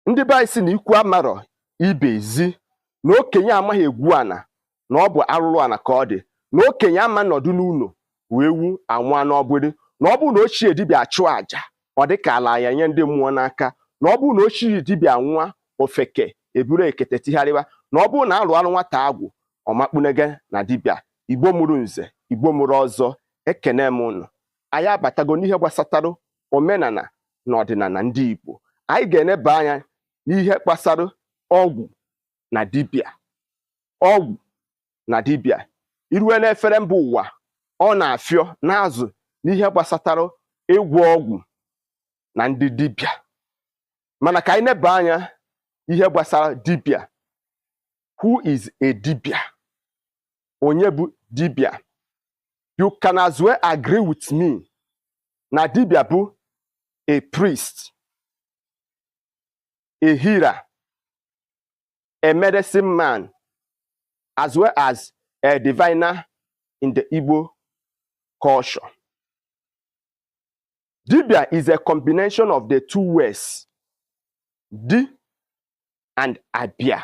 ndị be anyị si na ikwu amarọ ibe ezi na okenye amaghị egwu ana na ọ bụ arụrụ ana ka ọ dị na okenye ama nọdụ n'ụnọ ewu anwụa n'ọgbịrị na ọ bụrụ na ochie dibịa achụ àjà ọ dị ka ala ya nye ndị mmụọ n'aka na ọ bụrụ na ochie dibịa nwụa ofeke eburu ekete tigharịwa na ọ bụrụ na alụ alụ nwata agwụ ọ makpunege na dibịa Igbo mụrụ nze Igbo mụrụ ọzọ ekene m ụnụ anyị abatago n'ihe gbasatara omenana na ọdịnana ndị Igbo anyị ga-eneba anya n'ihe gbasara ọgwụ na dibịa ọgwụ na dibịa i rue n'efere mba ụwa ọ na-afịọ n'azụ n'ihe gbasatara ịgwọ ọgwụ na ndị dibịa mana ka anyị neba anya ihe gbasara dibịa who is a dibịa onye bụ dibịa you can as well agree with me na dibịa bụ a priest a healer a medicine man as well as a diviner in the Igbo culture. Dibia is a combination of the two words, di and abia.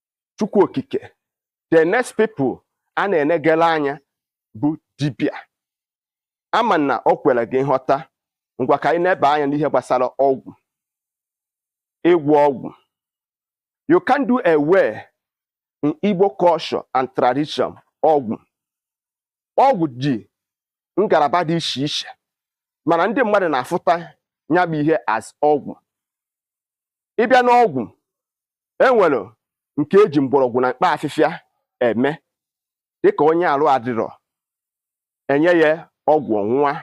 chukwu okike the next people a na-enegala anya bụ dibịa ama m na o kwere gị nghọta ngwa ka anyị neba anya n'ihe gbasara ọgwụ ịgwọ ọgwụ you can't do away in Igbo culture and tradition ọgwụ ọgwụ ji ngalaba dị iche iche mana ndị mmadụ na-afụta nya bụ ihe as ọgwụ ị bịa n'ọgwụ e nwere nke e ji mgbọrọgwụ na mkpa afịfịa eme dịka onye arụ adịrọ e nye ya ọgwụ ọ ṅụa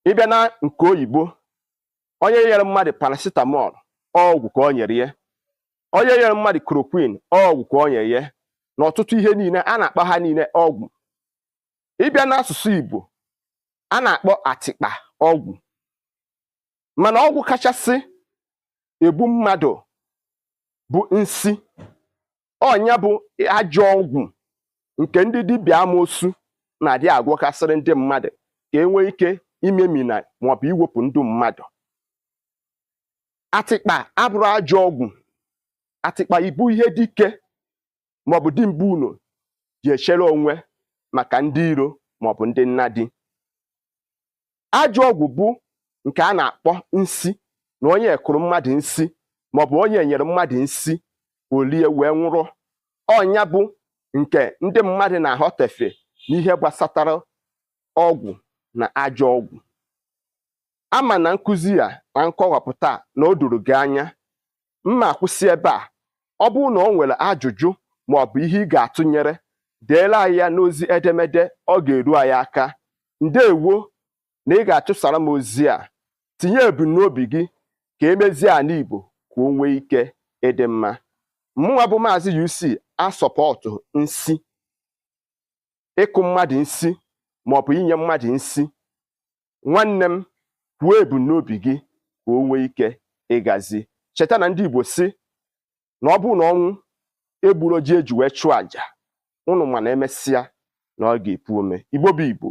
ị bịa na nke oyibo onye nyere mmadụ paracetamol ọgwụ ka o nyere ya onye nyere mmadụ chloroquine ọgwụ ka o nyere ya na ọtụtụ ihe niile a na-akpọ ha niile ọgwụ ị bịa n'asụsụ Igbo a na-akpọ atịkpa ọgwụ mana ọgwụ kachasị egbu mmadụ bụ nsi ọ nya bụ ajọ ọgwụ nke ndị dibịa amoosu na-adị agwọkasịrị ndị mmadụ ka e nwee ike imemina maọbụ iwepụ ndụ mmadụ atịkpa abụrọ ajọ ọgwụ atịkpa bụ ihe dike maọbụ di bu ụnọ ji echere onwe maka ndị iro maọbụ ndị nnadi ajọ ọgwụ bụ nke a na-akpọ nsi na onye kụrụ mmadụ nsi maọbụ onye nyere mmadụ nsi o lie wee nwụrụ ọ nya bụ nke ndị mmadụ na-aghọtefie n'ihe gbasatara ọgwụ na ajọ ọgwụ ama m na nkụzi ya na nkọwapụta na o doro gị anya m na-akwụsị ebe a ọ bụrụ na o nwere ajụjụ ma ọ bụ ihe ị ga-atụnyere deela anyị ya n'ozi edemede ọ ga-eru anyị aka ndewo na ị ga-achụsara m ozi a tinye ebumnobi gị ka e mezie ala Igbo ka o nwee ike ịdị mma mụnwa bụ maazị UC asọpọtụ nsi ịkụ mmadụ nsi ma ọ bụ inye mmadụ nsi nwanne m kwuo ebumnobi gị ka o nwee ike ịgazi cheta na ndị Igbo sị na ọ bụrụ na ọnwụ egburo ji e ji wee chụọ àjà ụnụ ma na e mesịa na ọ ga-epu ome Igbo bụ Igbo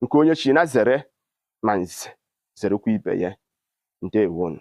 nke onye chi na zere ma nze zerekwa ibe ya ndewonu